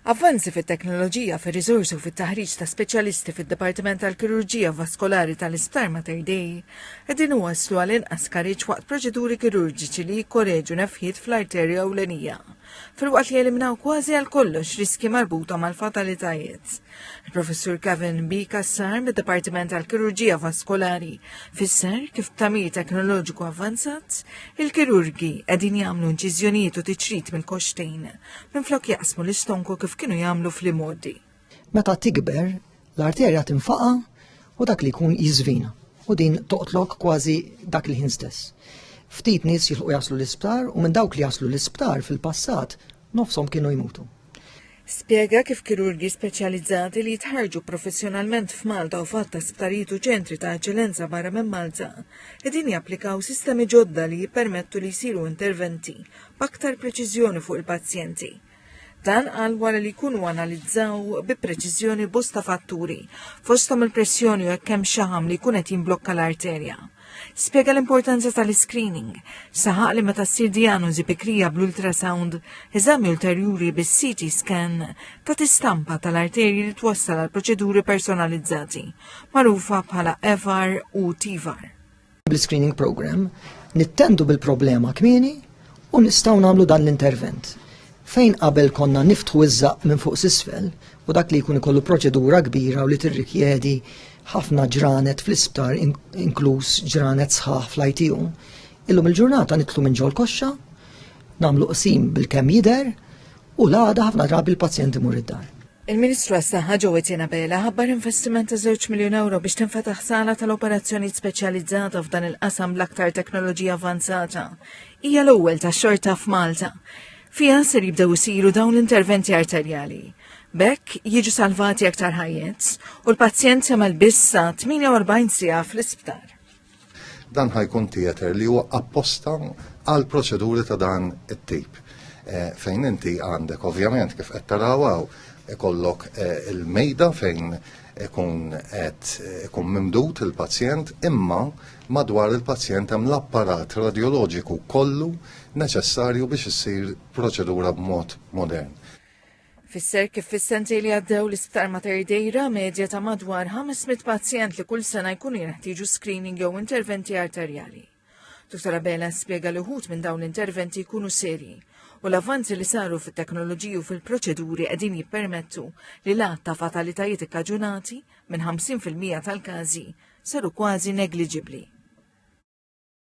Avvanzi fit-teknoloġija, fir-riżorsi u fit-taħriġ ta' speċjalisti fid-Dipartiment tal-Kirurġija Vaskolari tal-Isptar Mater Dei qegħdin iwasslu għal inqas skariġġ waqt proċeduri kirurġiċi li jikkoreġu nefħiet fl-arterja ewlenija, filwaqt li jeliminaw kważi għal kollox riskji marbuta mal-fatalitajiet. Il-Professur Kevin B. Kassar mid-Dipartiment tal-Kirurġija Vaskolari fisser kif b'tamir teknoloġiku avvanzat il-kirurgi qegħdin jagħmlu inċiżjonijiet u tiċrit mill-koxtejn minflok jaqsmu l-istonku kif kienu jagħmlu fl-imgħoddi. Meta tikber, l-arterja tinfaqa u dak li jkun jiżvina u din toqtlok kważi dak il-ħin stess. Ftit nies jilħu jaslu l-isptar u minn dawk li jaslu l-isptar fil-passat nofshom kienu jmutu. Spjega kif kirurgi speċjalizzati li jitħarġu professjonalment f'Malta u fatt ta' sptarijiet u ċentri ta' eċċellenza barra minn Malta qegħdin japplikaw sistemi ġodda li jippermettu li jsiru interventi b'aktar preċiżjoni fuq il-pazjenti. Dan għal wara li jkunu analizzaw bi preċiżjoni bosta fatturi, fosthom il-pressjoni u hekk hemm xaħam li jkun qed jimblokka l-arterja. Spjega l-importanza tal-screening. Saħaq li meta ssir diagnosi bikrija bl-ultrasound, eżami ulterjuri bis-CT scan ta' tistampa tal-arterji li twassal għal proċeduri personalizzati, magħrufa bħala FR u TVAR. Bl-screening program nittendu bil-problema kmieni U nistgħu nagħmlu dan l-intervent. Fejn qabel konna niftħu iż-żaq minn fuq s'isfel u dak li jkun ikollu proċedura kbira u li tirrikjedi ħafna ġranet fl-isptar inkluż ġranet sħaħ fl-ITU, illum il-ġurnata nitlu minn ġol koxxa, nagħmlu qsim bil-kemm jidher U l-għada ħafna drabi l-pazjent imur id-dar. Il-Ministru għas-Saħħa Ġowetina Bela ħabbar investiment ta' 2 miljun euro biex tinfetaħ sala tal-operazzjoni speċjalizzata f'dan il-qasam l-aktar teknoloġija avanzata. Hija l-ewwel ta' xorta f'Malta. Fiha ser jibdew isiru dawn l-interventi arterjali. Bekk jiġu salvati aktar ħajjet u l-pazjent jagħmel bissa 48 sija fl-isptar. Dan ħa jkun theater li huwa apposta għal proċeduri ta' dan it-tip. Eh, fejn inti għandek ovvjament kif qed tarawaw ikollok eh, il-mejda fejn ikun qed ikun mimdut il-pazjent imma madwar il-pazjent hemm l-apparat radjoloġiku kollu neċessarju biex issir proċedura b'mod modern. Fisser kif fis-sentej li għaddew l-Isptar Mater Dei ra medja ta' madwar 500 pazjent li kull sena jkunu jinħtieġu screening jew interventi arterjali. Dr. Abela spjega li wħud minn dawn l-interventi jkunu serji u l-avvanzi li saru fit-teknoloġiji u fil-proċeduri qegħdin jippermettu li l-għadd ta' fatalitajiet ikkaġunati minn 50% tal-każi saru kważi negliġibbli.